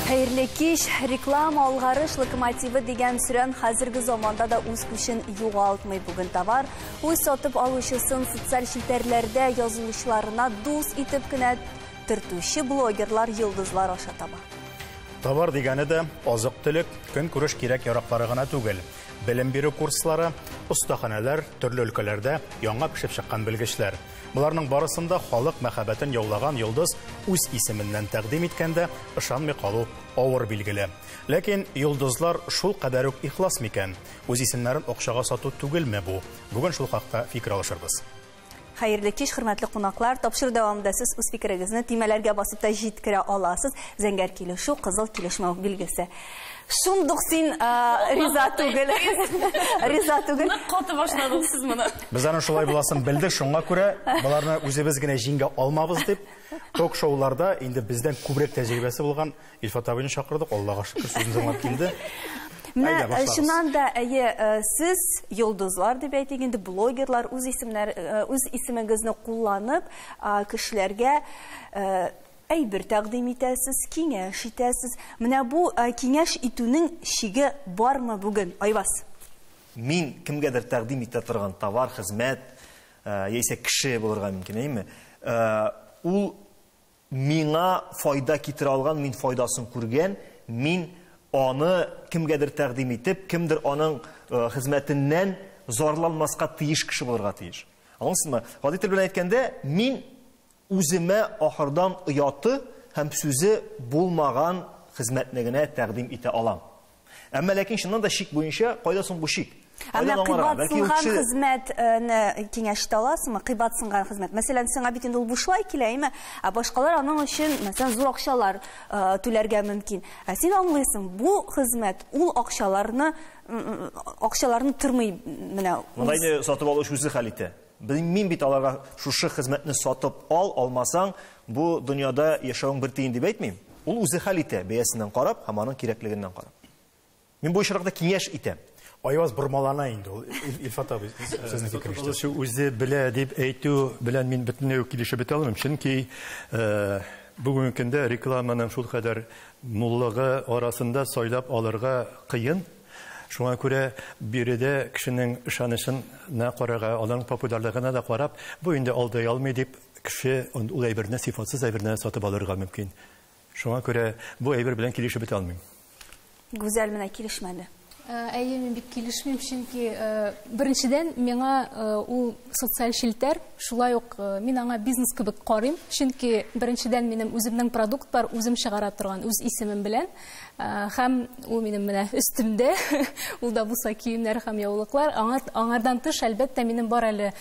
Хәерле кич, реклама алгарыш локомотивы дигән сүрән хәзерге заманда да үз көчен югалтмый бүген товар. Үз сатып алучысын социаль челтәрләрдә язылучыларына дус итеп кенә төртүче блогерлар йолдызлар аша таба. Товар дигәне дә азык-төлек, көнкүреш кирәк-яраклары гына түгел. Белем бирү курслары, остаханәләр, төрле өлкәләрдә яңа пешеп чыккан белгечләр. Боларның барысын да халык мәхәббәтен яулаган йолдыз үз исеменнән тәкъдим иткәндә ышанмый калу авыр билгеле. Ләкин йолдызлар шул кадәр үк ихлас микән? Үз исемнәрен акчага сату түгелме бу? Бүген шул хакта фикер алышырбыз. Хәерле кич, хөрмәтле кунаклар. Тапшыру дәвамында сез үз фикерегезне төймәләргә басып та җиткерә аласыз. Зәңгәр килешү, кызыл килешмәү билгесе. Шундук син риза түгел. Риза түгел. Нык каты башладыгыз сез моны. Без аны шулай буласын белдек, шуңа күрә боларны үзебез генә җиңә алмабыз дип, ток-шоуларда инде бездән күбрәк тәҗрибәсе булган Илфат абыйны чакырдык, Аллага шөкер, сүзен тыңлап килде. Менә чыннан да әйе, сез йолдызлар дип әйтик инде, блогерлар үз исемнәр үз исемегезне кулланып, кешеләргә әйбер тәкъдим итәсез, киңәш итәсез. Менә бу киңәш итүнең чиге бармы бүген, Айваз? Мин кемгәдер тәкъдим итә торган товар, хезмәт, яисә кеше булырга мөмкин, әйеме? Ул Миңа файда китерә алган, мин файдасын күргән, мин аны кемгәдер тәкъдим итеп, кемдер аның хезмәтеннән зарланмаска тиеш кеше булырга тиеш. Аңлыйсызмы? Гади тел белән әйткәндә, мин үземә ахырдан ояты һәм сүзе булмаган хезмәтне генә тәкъдим итә алам. Әмма ләкин чыннан да шик буенча, кайда соң бу шик? Ә менә кыйбатсынган хезмәтне киңәш итә аласыңмы? Кыйбатсынган хезмәт. Мәсәлән, сиңа бит инде ул бушлай килә, әйме? Ә башкалар аның өчен, мәсәлән, зур акчалар түләргә мөмкин. Ә син аңлыйсың, бу хезмәт ул акчаларны акчаларны тормый менә. Монда инде сатып алуч үзе хәл итә. Белмим бит аларга шушы хезмәтне сатып ал, алмасаң, бу дөньяда яшәвең бер тиен дип әйтмим. Ул үзе хәл итә, бәясеннән карап һәм аның кирәклегеннән карап. Мин бу очракта киңәш итәм. Айваз бормалана инде ул Илфат абый сезнең фикерегезчә. Үзе белә дип әйтү белән мин бөтенләй үк килешеп бетә алмыйм, чөнки бүгенге көндә рекламаның шулкадәр муллыгы арасында сайлап алырга кыен. Шуңа күрә биредә кешенең ышанычына карарга, аның популярлыгына да карап, бу инде алдай алмый дип, кеше ул әйберне, сыйфатсыз әйберне сатып алырга мөмкин. Шуңа күрә бу әйбер белән килешеп бетә алмыйм. Гүзәл менә килешмәде. Әйе, мин бик килешмим, чөнки беренчедән, миңа ул социаль челтәр, шулай ук мин аңа бизнес кебек карыйм, чөнки беренчедән, минем үземнең продуктлар, үзем чыгара торган, үз исемем белән. Хәм ул минем менә өстемдә, ул да булса киемнәр һәм яулыклар. Аңардан тыш, әлбәттә, минем бар әле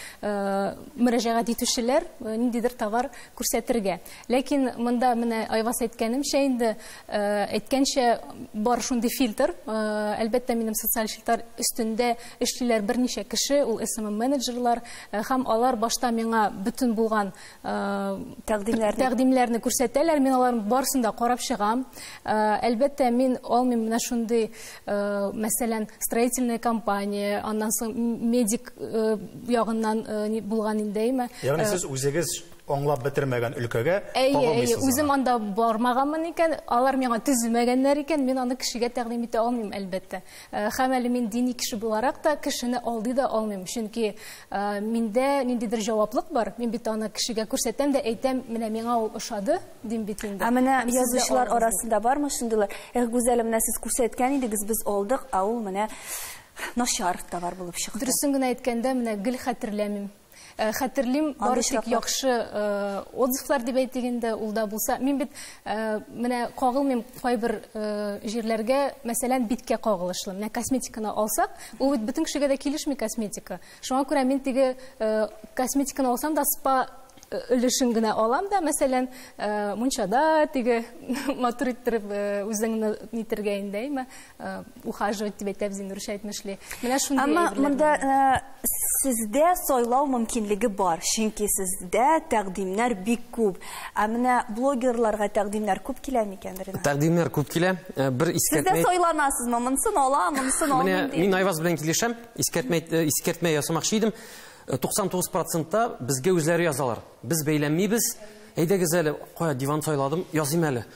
мөрәҗәгать итүчеләр ниндидер товар күрсәтергә. Ләкин монда менә Айвас әйткәнемчә инде, әйткәнчә бар шундый фильтр. Әлбәттә, минем социаль челтәр өстендә эшлиләр берничә кеше, ул SMM-менеджерлар. Хәм алар башта миңа бөтен булган тәкъдимнәрне тәкъдимнәрне күрсәтәләр мин аларның барысын да карап чыгам әлбәттә мин алмыйм менә шундый мәсәлән строительная компания аннан соң медик ягыннан булган инде әйме ягъни сез үзегез аңлап бетермәгән өлкәгә әйе үзем анда бармаганмын икән алар миңа төземәгәннәр икән мин аны кешегә тәкъдим итә алмыйм әлбәттә Хәм әле мин дини кеше буларак та кешене алдый да алмыйм, чөнки миндә ниндидер җаваплык бар, мин бит аны кешегә күрсәтәм дә әйтәм, менә миңа ул ошады, дим бит инде. Ә менә язучылар арасында бармы шундыйлар, эх, Гүзәлем, менә сез күрсәткән идегез, без алдык, ә ул менә начар товар булып чыкты. Дөресен генә әйткәндә, менә гел хәтерләмим. Э, хәтерлим бары тик яхшы э, отзывлар дип әйтик инде ул да булса мин бит э, менә кагылмыйм кайбер җирләргә мәсәлән биткә кагылышлы менә косметиканы алсак ул бит бөтен кешегә дә килешми косметика шуңа күрә мин теге косметиканы алсам да спа өлешен генә алам да мәсәлән мунчада теге матур иттереп үзеңне нитергә инде әйме Э, ухаживать дип әйтәбез инде русча әйтмешли менә шундый әмма монда э, сездә сайлау мөмкинлеге бар чөнки сездә тәкъдимнәр бик күп ә менә блогерларга тәкъдимнәр күп килә микән тәкъдимнәр күп килә э, бер искәртмә сездә сайланасызмы монысын ала монысын алмыйм дип мин айваз белән килешәм искәртмә искәртмә ясамакчы идем 99 процентта безгә үзләре язалар без бәйләнмибез әйдәгез әле кая диван сайладым языйм әле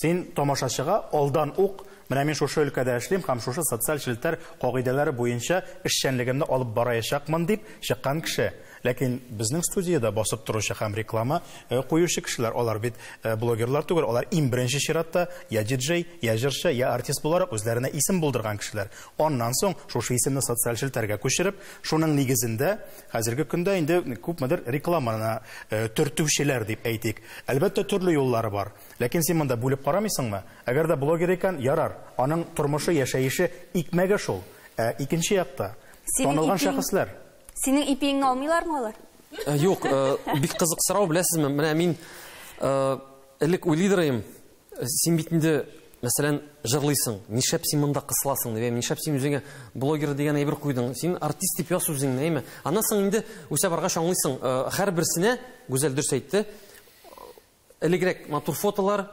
Син тамашачыга алдан ук, менә мин шушы өлкәдә эшлим һәм шушы социаль челтәр кагыйдәләре буенча эшчәнлегемне алып бараячакмын дип чыккан кеше. Ләкин безнең студиядә басып торучы һәм реклама куючы кешеләр, алар бит блогерлар түгел, алар иң беренче чиратта я диджей, я җырчы, я артист буларак үзләренә исем булдырган кешеләр. Аннан соң шушы исемне социаль челтәргә күчереп, шуның нигезендә хәзерге көндә инде күпмедер рекламаны төртүчеләр дип әйтик. Әлбәттә, төрле юллары бар. Ләкин син монда бүлеп карамыйсыңмы? Әгәр дә блогер икән, ярар, аның тормышы, яшәеше, икмәге шул. Ә икенче якта, танылган шәхесләр. Синең ипиеңне алмыйлармы алар? Юк, бик кызык сорау, беләсезме, менә мин элек уйлый да идем, син бит инде, мәсәлән, җырлыйсың, нишләп син монда кысыласың, дип, нишләп син үзеңә блогер дигән әйбер куйдың, син артист дип яз үзеңне, әйме. Аннан соң инде үсә баргач аңлыйсың, һәрберсенә, Гүзәл дөрес әйтте, Элегрәк матур фотолар,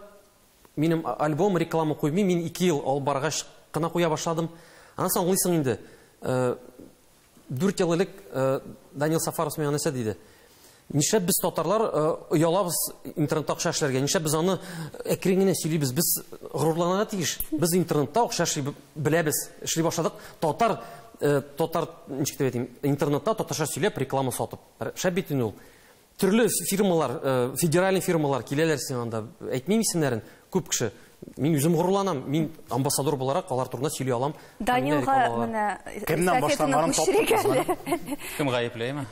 минем альбом, реклама куймыйм, мин ике ел алып баргач кына куя башладым. Аннан соң аңлыйсың инде. Дүрт ел элек Данил Сафаров миңа нәрсә диде? Нишләп без татарлар оялабыз интернетта акча эшләргә? Нишләп без аны әкрен генә сөйлибез? Без горурланырга тиеш. Без интернетта акча эшли беләбез, эшли башладык. Татар татар ничек дип әйтим, интернетта татарча сөйләп реклама сатып. Шәп бит инде ул. Төрле фирмалар, федеральный фирмалар киләләр сиңа анда. Әйтмим исемнәрен, күп кеше. Мин үзем горурланам, мин амбассадор буларак алар турында сөйли алам. Данилга менә кемнән башланганын таптык. Кем гаеплеме?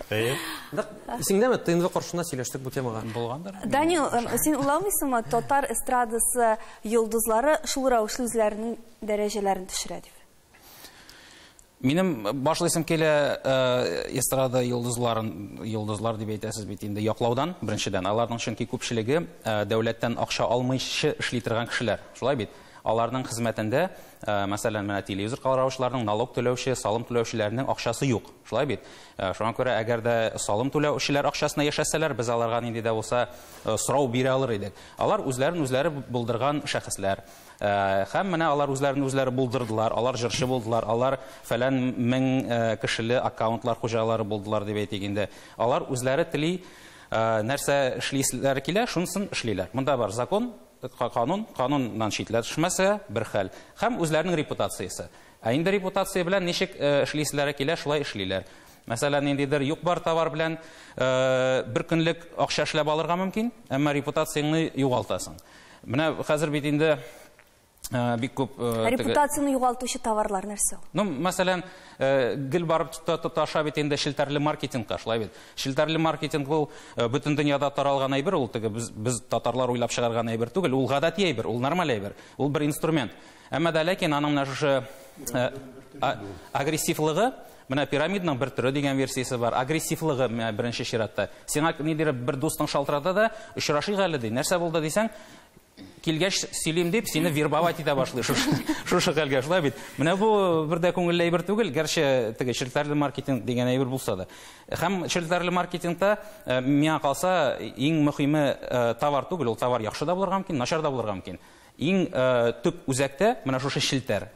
Исеңдәме, ТНВ каршында сөйләштек бу темага. Булгандыр. Данил, син уйламыйсыңмы, татар эстрадасы йолдызлары шул рәвешле үзләренең дәрәҗәләрен төшерә дип? Минем башлыйсым килә э, эстрада йолдызларын, йолдызлар дип әйтәсез бит инде, яклаудан, беренчедән. Аларның чөнки күпчелеге э, дәүләттән акча алмыйчы эшли торган кешеләр. Шулай бит? Аларның хезмәтендә, э, мәсәлән, менә телевизор караучыларның, налог түләүче, салым түләүчеләрнең акчасы юк. Шулай бит? Шуңа күрә, әгәр дә салым түләүчеләр акчасына яшәсәләр, без аларга нинди дә булса сорау бирә алыр идек. Алар үзләрен үзләре булдырган шәхесләр. Э, һәм менә алар үзләрен үзләре булдырдылар алар җырчы булдылар алар фәлән мең э, кешеле аккаунтлар хуҗалары булдылар дип әйтик инде алар үзләре тели э, нәрсә эшлисләре килә шунысын эшлиләр монда бар закон канун кануннан читләр төшмәсә бер хәл һәм үзләренең репутациясе ә инде репутация белән ничек эшлисләре килә шулай эшлиләр мәсәлән ниндидер юк бар товар белән бер көнлек акча эшләп алырга мөмкин әмма репутацияңне югалтасың Менә хәзер бит инде Э, бик күп э, репутацияне югалтучы товарлар нәрсә ул ну мәсәлән э, гел барып тоташа бит инде челтәрле маркетингка шулай бит челтәрле маркетинг ул бөтен дөньяда таралган әйбер ул теге без, без татарлар уйлап чыгарган әйбер түгел ул гадәти әйбер ул нормаль әйбер ул бер инструмент әмма дә ләкин аның менә шушы агрессивлыгы Менә пирамидның бер төре дигән версиясе бар. Агрессивлыгы менә беренче чиратта. Сиңа ниндидер бер дустың шалтырата да, очрашыйк әле ди. Нәрсә булды дисәң, килгәч сөйлим дип, сине вербовать итә башлый шушы, шушы хәлгә. Шулай бит. Менә бу бер дә күңелле әйбер түгел, гәрчә теге челтәрле маркетинг дигән әйбер булса да. Һәм челтәрле маркетингта э, миңа калса иң мөхиме э, товар түгел, ул товар яхшы да булырга мөмкин, начар да булырга мөмкин. Иң э, төп үзәктә менә шушы челтәр.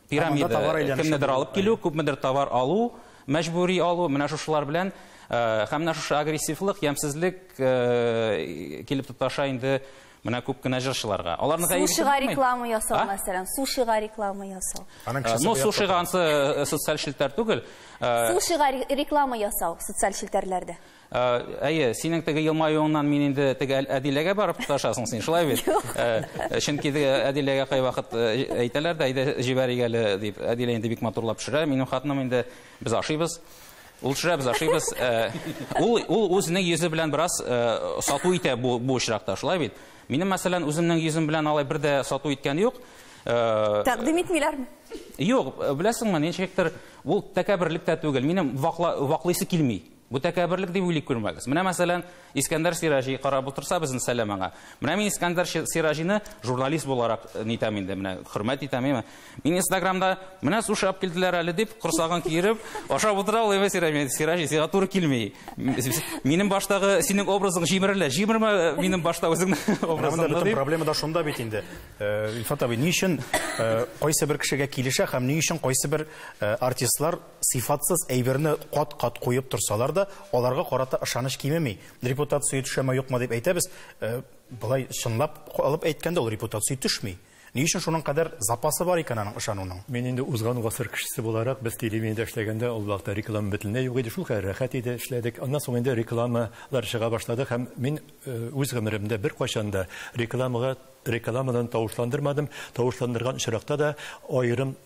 Пирамида, кемнедер алып килү, күпмедер товар алу, мәҗбүри алу, менә шушылар белән э, һәм менә шушы агрессивлык, ямьсезлек э, килеп тоташа инде менә күп кенә җырчыларга. Аларныга Сушига реклама ясау, а? мәсәлән, сушига реклама ясау. Э, ну, сушига ансы социаль челтәр түгел. Сушига реклама ясау социаль челтәрләрдә. Әйе, синең теге елмаюыңнан мин инде теге Әдиләгә барып тоташасың син, шулай бит? Чөнки теге Әдиләгә кайвакыт әйтәләр дә, әйдә җибәрик әле дип, Әдилә инде бик матурлап пешерә, минем хатыным инде без ашыйбыз. Ул төшерә, без ашыйбыз. Ул ул үзенең йөзе белән бераз сату итә бу бу очракта, шулай бит? Минем, мәсәлән, үземнең йөзем белән алай бер дә сату иткән юк. Тәкъдим итмиләрме? Юк, беләсеңме, ничектер, ул тәкәбберлек тә түгел, минем ваклыйсы килми. Бу тәкәбберлек дип уйлый күрмәгез. Менә, мәсәлән, Искәндәр Сираҗи карап утырса, безнең сәлам аңа. Менә мин Искәндәр Сираҗины журналист буларак э, нитәм инде, менә хөрмәт итәм, әйме. Мин Инстаграмда менә сушап килделәр әле дип, корсагын киереп, ашап утыра ул, әйме Сираҗи, Сираҗи, сиңа туры килми. Минем баштагы синең образың җимерелә. Җимермә э, минем башта үзеңнең образыңны дип. Бөтен проблема да шунда бит инде. Э, Илфат абый, ни өчен кайсы бер кешегә килешә һәм ни өчен кайсы бер артистлар Сыйфатсыз әйберне кат-кат куеп торсалар да, аларга карата ышаныч кимеми. Репутация төшәме, юкмы дип әйтәбез. Э, болай чынлап алып әйткәндә, ул репутация төшми. Ни өчен шуның кадәр запасы бар икән аның ышануның? Мин инде узган гасыр кешесе буларак, без телевидениедә эшләгәндә, ул вакытта реклама бөтенләй юк иде, шул кадәр рәхәт иде, эшләдек. Аннан соң инде рекламалар чыга башлады һәм мин э, үз гомеремдә беркайчан да рекламага рекламадан тавышландырмадым. Тавышландырган очракта да аерым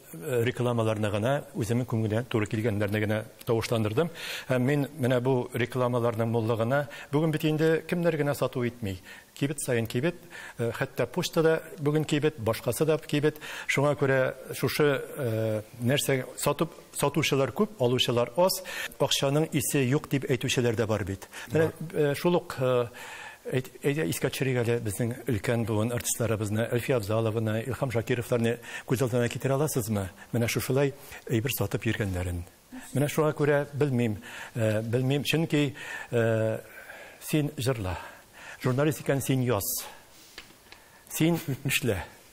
рекламаларны гына үземнең күңелгә туры килгәннәрне генә тавышландырдым. Һәм мин менә бу рекламаларның муллыгына бүген бит инде кемнәр генә сату итми. Кибет саен кибет, э, хәтта почта да бүген кибет, башкасы да кибет. Шуңа күрә шушы э, нәрсә сатып сатучылар күп, алучылар аз. Акчаның исе юк дип әйтүчеләр дә бар бит. Менә э, шул ук Әйдә, искә төшерик әле безнең өлкән буын артистларыбызны, Әлфия Абзалованы, Илһам Шакировларны күз алдына китерә аласызмы? Менә шушылай әйбер сатып йөргәннәрен. Менә шуңа күрә белмим, белмим, чөнки син җырла. Журналист икән, син яз. Син эшлә.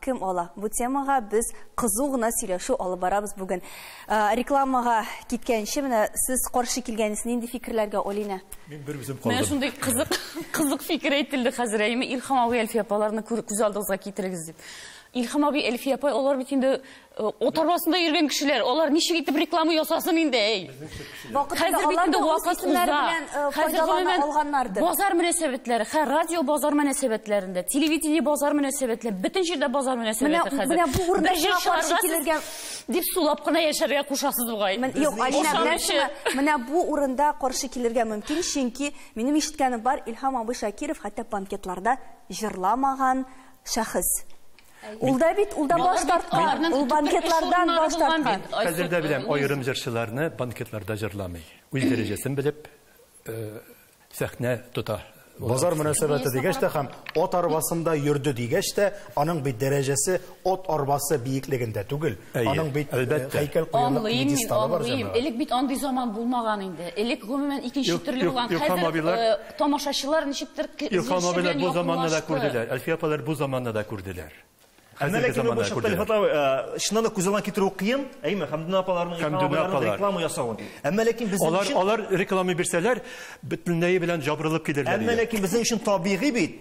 кем ала? Бу темага без кызу гына сөйләшү алып барабыз бүген. Рекламага киткәнче менә сез каршы килгәнсез нинди фикерләргә Олина? Мин бер үзем калдым. Менә шундый кызык кызык фикер әйтелде хәзер. Әйме Илхам абый Әлфия апаларны күз алдыгызга китерегез дип. Илхам абый Әлфия апа алар бит инде От арбасында йөргән кешеләр, алар ничек итеп реклама ясасын инде, әй. Хәзер бит инде вакыт уза. Э, Хәзер гомумән алганнардыр. Базар мөнәсәбәтләре, хә, радио базар мөнәсәбәтләрендә, телевидение базар мөнәсәбәтләре, бөтен җирдә базар мөнәсәбәте хәзер. Менә бу урында чыгарга килергә дип сулап кына яшәргә кушасыз бугай. Юк, Алина, беләсезме? Менә бу урында каршы килергә мөмкин, чөнки минем ишеткәнем бар, Илһам абый Шакиров хәтта банкетларда җырламаган шәхес. Ул да бит, ул да баш тарткан, ул банкетлардан баш тарткан. Хәзер дә беләм, аерым җырчыларны банкетларда җырламый. Үз дәрәҗәсен белеп, э, сәхнә тота. Базар мөнәсәбәте дигәч тә һәм от арбасында йөрде дигәч тә, аның бит дәрәҗәсе от арбасы биеклегендә түгел. Аның бит э, һәйкәл куярлык пьедесталы бар җәмәгать. Элек бит андый заман булмаган инде. Элек гомумән икенче төрле булган. Хәзер Тамашачылар ничектер ке Илһам зилче абыйлар белән бу заманны да якынлашты. күрделәр, Әлфия апалар бу заманны да күрделәр. Әмма Хәзерге ләкин ул заманны да чакта Илһам күрделәр. апа, э, чыннан да күз алдына китерү кыен, әйеме? Хәмдүнә апаларның, Илһам Хәмдүнә абыйларның апалар. реклама ясавын. Әмма ләкин безнең Алар, өчен алар реклама бирсәләр, бөтенләе белән җабырылып килерләр Әмма иде. ләкин безнең өчен табигый бит.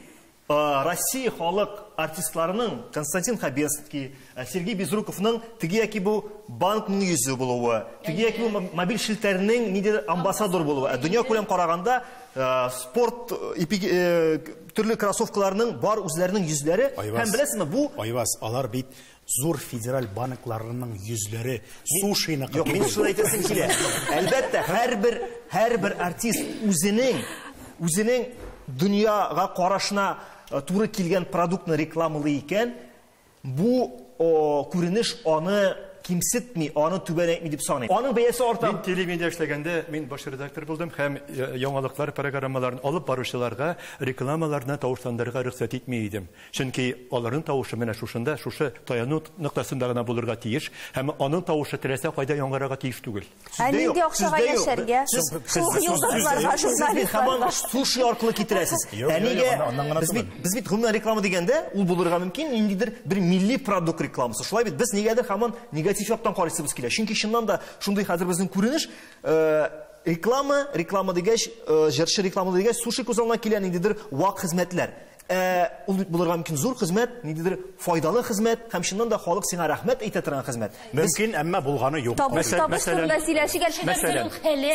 Россия халык артистларының Константин Хабенский, э, Сергей Безруковның теге яки бу банкның йөзе булуы, теге яки бу мобиль челтәрнең ниндидер амбассадор булуы. Ә дөнья күләм караганда э, спорт э, төрле кроссовкаларның бар үзләренең йөзләре һәм беләсезме бу Айваз, алар бит Зур федераль банкларының йөзләре сушиныкы Юк, мин түгел. шуны әйтәсем килә. Әлбәттә, һәрбер һәрбер артист үзенең үзенең дөньяга карашына э, туры килгән продуктны рекламалый икән, бу о, күренеш аны кимсетми, аны түбәнәйтми дип саныйм. Аның бәясе арта. Мин телевидение эшләгәндә мин баш редактор булдым һәм э, яңалыклар программаларын алып баручыларга рекламаларны тавышландырырга рөхсәт итми идем. Чөнки аларның тавышы менә шушында, шушы таяну ноктасында гына булырга тиеш, һәм аның тавышы теләсә кайда яңгырарга тиеш түгел. Ә нинди акчага яшәргә? Шул йолдызларга, журналистларга. Суши аркылы китерәсез. Ә нигә? Без бит, без бит гомумән реклама дигәндә, ул булырга мөмкин, ниндидер бер милли продукт рекламасы. Шулай бит, без нигәдер һаман негатив яктан карыйсыбыз килә. Чөнки чыннан да шундый хәзер безнең күренеш, э, реклама, реклама дигәч, э, җырчы рекламада дигәч, суши күз алдына килә, ниндидер вак хезмәтләр. Ә ул бит булырга мөмкин зур хезмәт, ниндидер файдалы хезмәт һәм чыннан да халык сиңа рәхмәт әйтә торган хезмәт. Мөмкин, әмма булганы юк. Табыш табыш турында сөйләшик әле. Мәсәлән,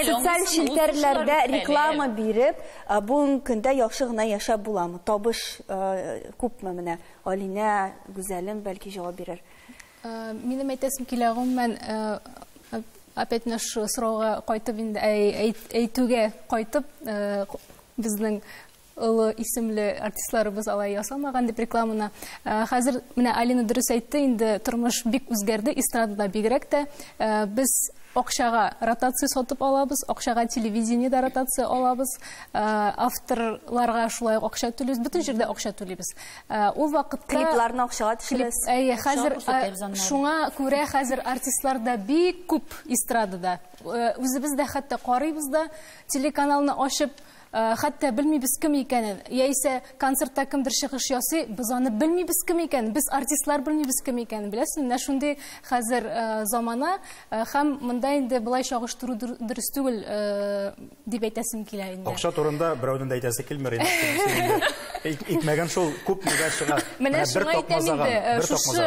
социаль челтәрләрдә реклама биреп, бүгенге көндә яхшы гына яшәп буламы? Табыш күпме менә? Алинә, Гүзәлем бәлки җавап бирер. Минем әйтәсем килә, гомумән, опять менә шул сорауга кайтып инде әйтүгә кайтып, безнең олы исемле артистларыбыз алай ясамаган дип рекламаны. Э, хәзер менә Алина дөрес әйтте, инде тормыш бик үзгәрде, эстрадада бигрәк тә э, без акчага ротация сатып алабыз, акчага телевидение да ротация алабыз, э, авторларга шулай акча түлибез, бөтен җирдә акча түлибез. Ул вакытта клипларны акчага төшерәбез. Әйе, хәзер шуңа күрә хәзер артистлар да бик күп эстрадада. Үзебез дә хәтта карыйбыз да, телеканалны ачып Хәтта белмибез кем икәнен, яисә концертта кемдер чыгыш ясый, без аны белмибез кем икәнен, без артистлар белмибез кем икәнен, беләсез, менә шундый хәзер замана һәм монда инде болай чагыштыру дөрес түгел дип әйтәсем килә инде. Акча турында берәүнең дә әйтәсе килми, итмәгән шул, күп нигә чыга. Менә шуңа әйтәм инде, шушы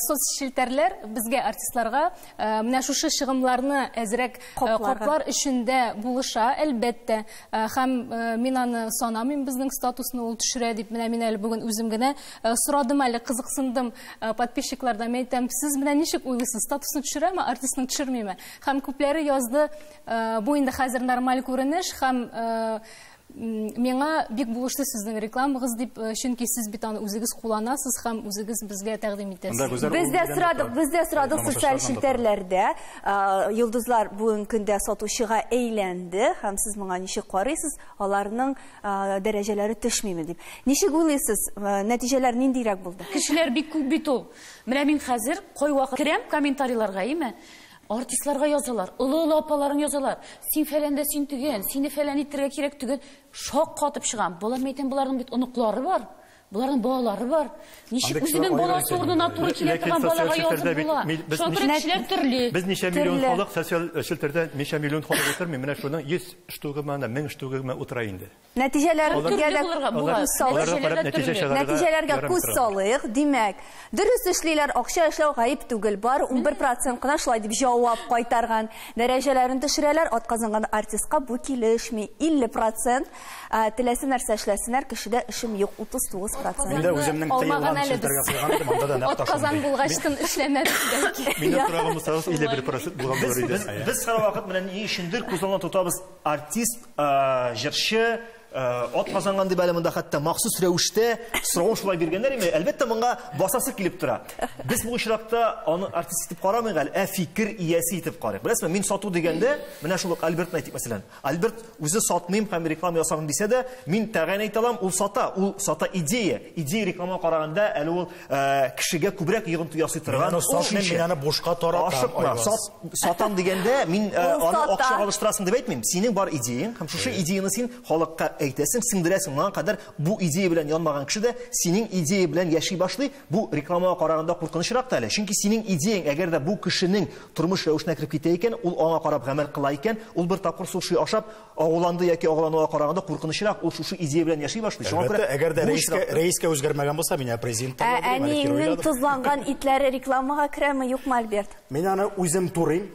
соцчелтәрләр безгә артистларга Э, менә шушы чыгымнарны әзрәк э, каплар өчен дә булыша әлбәттә э, һәм мин аны санамыйм безнең статусны ул төшерә дип менә мин әле бүген үзем генә сорадым әле кызыксындым подписчиклардан мен әйтәм сез менә ничек уйлыйсыз статусны төшерәме артистны төшермиме һәм күпләре язды бу инде хәзер нормаль күренеш һәм Миңа бик булышты сезнең рекламагыз дип, э, чөнки сез бит аны үзегез кулланасыз һәм үзегез безгә тәкъдим итәсез. Без дә сорадык, без дә сорадык социаль челтәрләрдә. Э, йолдызлар бүгенге көндә сатучыга әйләнде һәм сез моңа ничек карыйсыз, аларның э, дәрәҗәләре төшмиме дип. Ничек уйлыйсыз, нәтиҗәләр ниндирәк булды? Кешеләр бик күп бит ул. Менә мин хәзер кайвакыт керәм комментарийларга, име? Артистларга язалар, олы-олы апаларың язалар, син фәләндә син төгән, сине фәлән иттерергә кирәк төгән. Шаккатып чыгам. Балам, әйтәм, боларның бит оныклары бар. Боларның балалары бар. Ничек үзенең баласы урынына туры килә торган балага язып була? Шуңа күрә кешеләр төрле. Без ничә миллион халык социаль челтәрдә ничә миллион халык утырмый, менә шуның 100 штугымы, 1000 штугымы утыра инде. Нәтиҗәләргә дә күз салыйк. Нәтиҗәләргә күз салыйк. Димәк, дөрес эшлиләр, акча эшләү гаеп түгел. Бары унбер процент кына шулай дип җавап кайтарган. Дәрәҗәләрен төшерәләр, атказанган артистка бу килешми. Илле процент, теләсә нәрсә эшләсеннәр, кешедә эшем юк, утыз тугыз процент. Мин дә үземнең тыелган челтәргә куйган идем, анда да нәкъ та шундый. Атказан булгач тын эшләмәбез бәлки. Минем сораган булсагыз, илле бер процент булган булыр иде. Без һәрвакыт менә ни өчендер күз алдына тотабыз. Артист, җырчы, ат казанган дип әле монда хәтта махсус рәвештә соравын шулай биргәннәр име? Әлбәттә, моңа басасы килеп тора. Без бу очракта аны артист итеп карамыйк әле, ә фикер иясе итеп карыйк. Беләсезме, мин сату дигәндә, менә шул ук Альбертны әйтик, мәсәлән. Альберт үзе сатмыйм һәм реклама ясамыйм дисә дә, мин тәгаен әйтә алам, ул сата, ул сата идея. Идея реклама караганда әле ул Э, кешегә күбрәк йогынты ясый торган мин аны бушка таратам ашыкма сатам дигәндә мин э, аны акча алыштырасың дип әйтмим синең бар идеяң һәм шушы идеяны син халыкка әйтәсең сеңдерәсең моңа кадәр бу идея белән янмаган кеше дә синең идея белән яши башлый бу рекламага караганда куркынычрак та әле чөнки синең идеяң әгәр дә бу кешенең тормыш рәвешенә кереп китә икән ул аңа карап гамәл кыла икән ул бер тапкыр суши ашап Агуланды яки агулануга караганда куркынычрак, ул шушы идея белән яши башлый. Шуңа күрә әгәр дә рәискә, рәискә үзгәрмәгән булса, мин апрезин Ә әниеңнең тозланган итләре рекламага керәме, юкмы, Альберт? Мин аны үзем турыйм,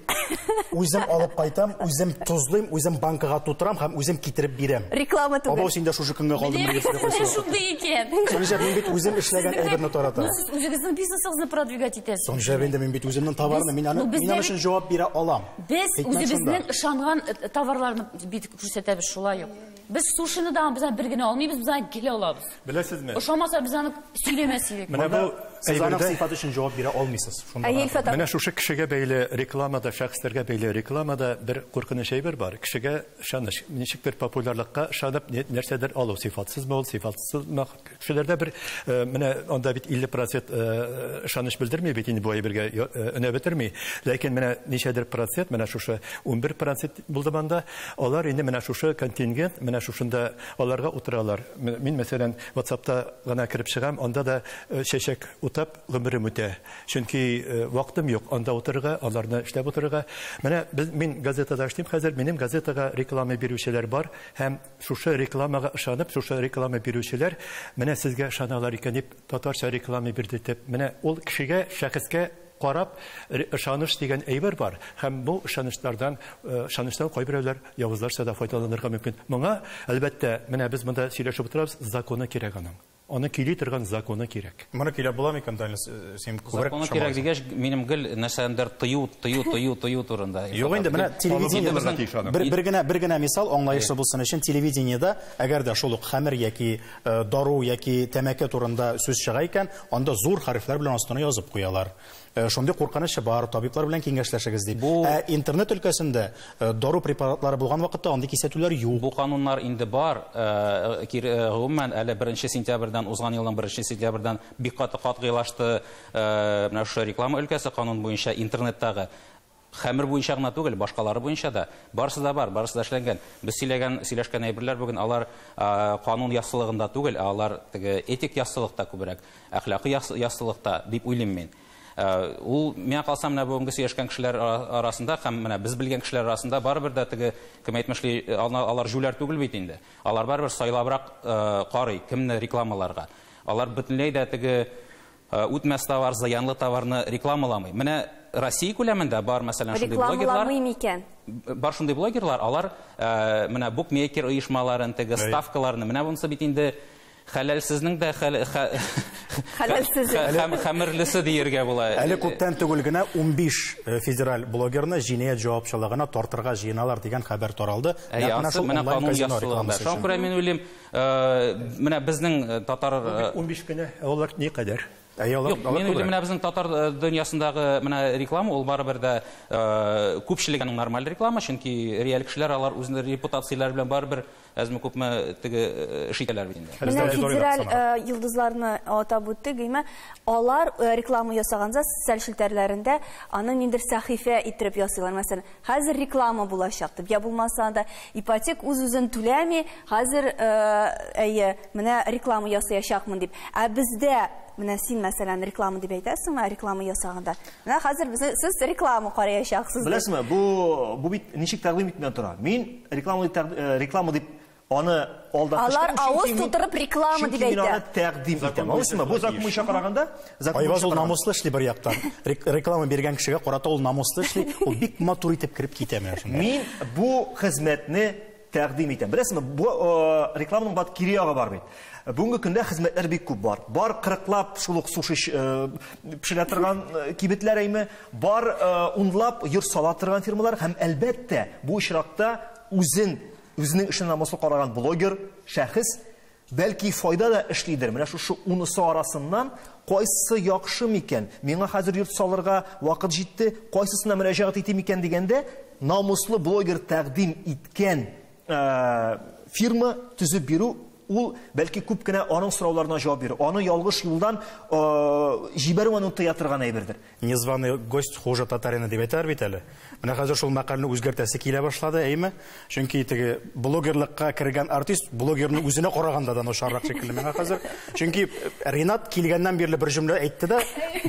үзем алып кайтам, үзем тозлыйм, үзем банкага тутырам һәм үзем китереп бирәм. Реклама түгел. Абау син дә шушы көнгә калдың дип сөйләп Шундый икән. Соңча мин бит үзем эшләгән әйберне таратам. Ну сез үзегезнең бизнесыгызны продвигать итәсез. Соңча инде мин бит үземнең товарны, мин аны, мин аны өчен җавап бирә алам. Без үзебезнең ышанган э, товарларны бит күрсәтәбез шулай ук. Без сушины да без бер генә алмыйбыз, без аны гел алабыз. Беләсезме? Ошамаса без аны сөйләмәс идек. Менә бу сез аның сыйфаты өчен җавап бирә алмыйсыз. Шунда. Менә шушы кешегә бәйле рекламада, шәхесләргә бәйле рекламада бер куркыныч әйбер бар. Кешегә ышаныч. Ничектер популярлыкка ышанып нәрсәдер алу сыйфатсызмы ул, сыйфатсызмы Кешеләрдә бер менә анда бит 50 процент ышаныч белдерми бит инде бу әйбергә өнә бетерми. Ләкин менә ничәдер процент, менә шушы 11 процент булды банда, алар инде менә шушы контингент, менә шушында аларга утыралар. Мин, мәсәлән, WhatsApp-та гына кереп чыгам, анда да чәчәк утап гомерем үтә. Чөнки вакытым юк анда утырырга, аларны эшләп утырырга. Менә мин газетада эшлим хәзер, минем газетага реклама бирүчеләр бар һәм Шушы рекламага ышанып, шушы реклама бирүчеләр менә сезгә ышаналар икән дип, татарча реклама бирдертеп, менә ул кешегә, шәхескә карап, ышаныч дигән әйбер бар. Һәм бу ышанычлардан, ышанычлар кайберәүләр явызларча да файдаланырга мөмкин. Моңа, әлбәттә, менә без монда сөйләшеп утырабыз, законы кирәк аның. Аны көйли торган законы кирәк. Моны көйләп була микән, Данил, син күбрәк Законы кирәк дигәч, минем гел нәрсәдәндер тыю, тыю, тыю, тыю турында. Юк инде, менә телевидение, бер, бер генә, бер генә мисал, аңлаешлы булсын өчен, телевидениедә, әгәр дә шул ук хәмер яки дару яки тәмәке турында сүз чыга икән, анда зур хәрефләр белән астына язып куялар. Э, шундый куркынычы бар, табиблар белән киңәшләшегез ди. Бу... Ә интернет өлкәсендә э, дару препаратлары булган вакытта андый кисәтүләр юк. Бу кануннар инде бар. Э, гомумән, әле 1 сентябрьдән, узган елның 1 сентябрьдән бик каты катгыйлашты менә шушы реклама өлкәсе канун буенча интернеттагы Хәмер буенча гына түгел, башкалары буенча да. Барысы да бар, барысы да эшләнгән. Без сөйләгән, сөйләшкән әйберләр бүген алар канун яссылыгында түгел, ә алар теге этик яссылыкта күбрәк, әхлакый яссылыкта, дип уйлыйм мин. Ул, миңа калса, менә бүгенге сөйләшкән кешеләр арасында һәм менә без белгән кешеләр арасында барыбер дә теге, кем әйтмешли, алар җүләр түгел бит инде. Алар барыбер сайлабрак карый, кемне рекламаларга. Алар бөтенләй дә теге Үтмәс товар, зыянлы товарны рекламаламый. Менә Россия күләмендә бар, мәсәлән, шундый блогерлар. Рекламаламый микән? Бар шундый блогерлар, алар менә букмекер оешмаларын, теге ставкаларны, менә бунысы бит инде хәләлсезнең дә хәләлсезе һәм хәмерлесе диергә була. Әле күптән түгел генә 15 э, федераль блогерны җинаять җавапчылыгына тартырга җыеналар дигән хәбәр таралды. Менә канун ясалганда. Шуңа күрә мин уйлыйм, Э, менә безнең э, татар 15 э, кенә алар ни кадәр Юк, мин уйлыйм, менә безнең татар дөньясындагы менә реклама, ул барыбер дә күпчелек аның нормаль реклама, чөнки реаль кешеләр алар үзләре репутацияләре белән барыбер әзме күпме теге эш итәләр бит инде. Менә федераль йолдызларны атап үттек, гыймә, алар реклама ясаганза социаль челтәрләрендә аны ниндер сәхифә иттереп ясыйлар. Мәсәлән, Хәзер реклама булачак дип, я булмаса да ипотек үз-үзен түләми, хәзер әйе, менә реклама ясаячакмын дип. Ә бездә менә син мәсәлән реклама дип әйтәсең, ә реклама ясаганда. Менә хәзер без сез реклама караячаксыз. Беләсезме, бу бу бит ничек тәкъдим итүдән тора. Мин реклама дип реклама дип Аны алда Алар авыз тутырып реклама дип әйтә. Чөнки мин аны тәкъдим итәм. Аңлыйсызмы? Бу закон буенча караганда, закон буенча ул намуслы эшли бер яктан. Реклама биргән кешегә карата ул намуслы эшли, ул бик матур итеп кереп китә менә шунда. Мин бу хезмәтне тәкъдим итәм. Беләсезме, бу э, рекламаның бат кире ягы бар бит. Бүгенге көндә хезмәтләр бик күп бар. Бар кырыклап шул ук суши э, пешерә торган э, кибетләр әйме, бар унлап йорт сала торган фирмалар һәм әлбәттә бу очракта үзен Үзенең эшен намуслы караган блогер, шәхес, бәлки файда да эшлидер. Менә шушы унысы арасыннан кайсы яхшы микән? Миңа хәзер йорт салырга вакыт җитте, кайсысына мөрәҗәгать итим икән дигәндә, намуслы блогер тәкъдим иткән фирма төзеп бирү Ул, бәлки, күп кенә аның сорауларына җавап бирү, аны ялгыш юлдан җибәрү аны тыя торган әйбердер. Незваный гость хуже татарина дип әйтәләр бит әле. Менә хәзер шул мәкальне үзгәртәсе килә башлады, әйме? Чөнки теге блогерлыкка кергән артист блогерның үзенә караганда да начаррак шикелле миңа хәзер. Чөнки Ренат килгәннән бирле бер җөмлә әйтте дә,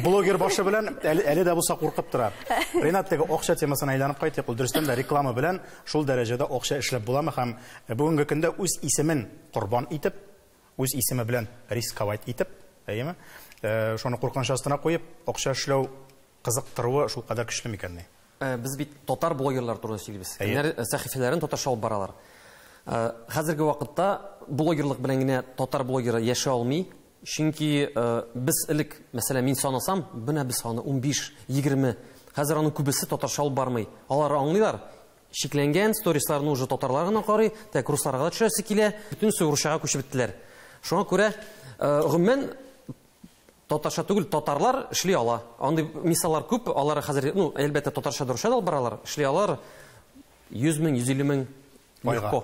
блогер башы белән әле, әле дә булса куркып тора. Ренат теге акча темасына әйләнеп кайтыйк. Ул дөрестән дә реклама белән шул дәрәҗәдә акча эшләп буламы һәм Ә бүгенге көндә үз исемен корбан итеп, үз исеме белән рисковать итеп, әйеме, шуны куркыныч астына куеп, акча эшләү кызыктыруы шулкадәр көчле микәнни? Без бит татар блогерлар турында сөйлибез. Кемнәр сәхифәләрен татарча алып баралар. Хәзерге вакытта блогерлык белән генә татар блогеры яши алмый, чөнки без элек, мәсәлән, мин санасам, менә без саны унбиш, егерме, хәзер аның күбесе татарча алып бармый. Алар аңлыйлар, Шикләнгән, сторисларны уже татарлар гына карый, тәк русларга да төшәсе килә, бөтенесе русчага күчеп беттеләр. Шуңа күрә, э, гомумән, татарча түгел, татарлар эшли ала. Андый мисаллар күп, алар хәзер, ну, әлбәттә, татарча да, русча да алып баралар, эшли алар 100 мең, 150 мең легко.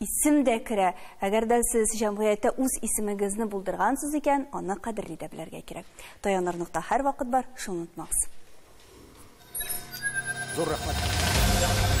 Исем дә керә. Әгәр дә сез җәмгыятьтә үз исемегезне булдыргансыз икән, аны кадерли дә белергә кирәк. Таяныр нокта һәрвакыт бар, шуны онытмагыз. Зур рәхмәт.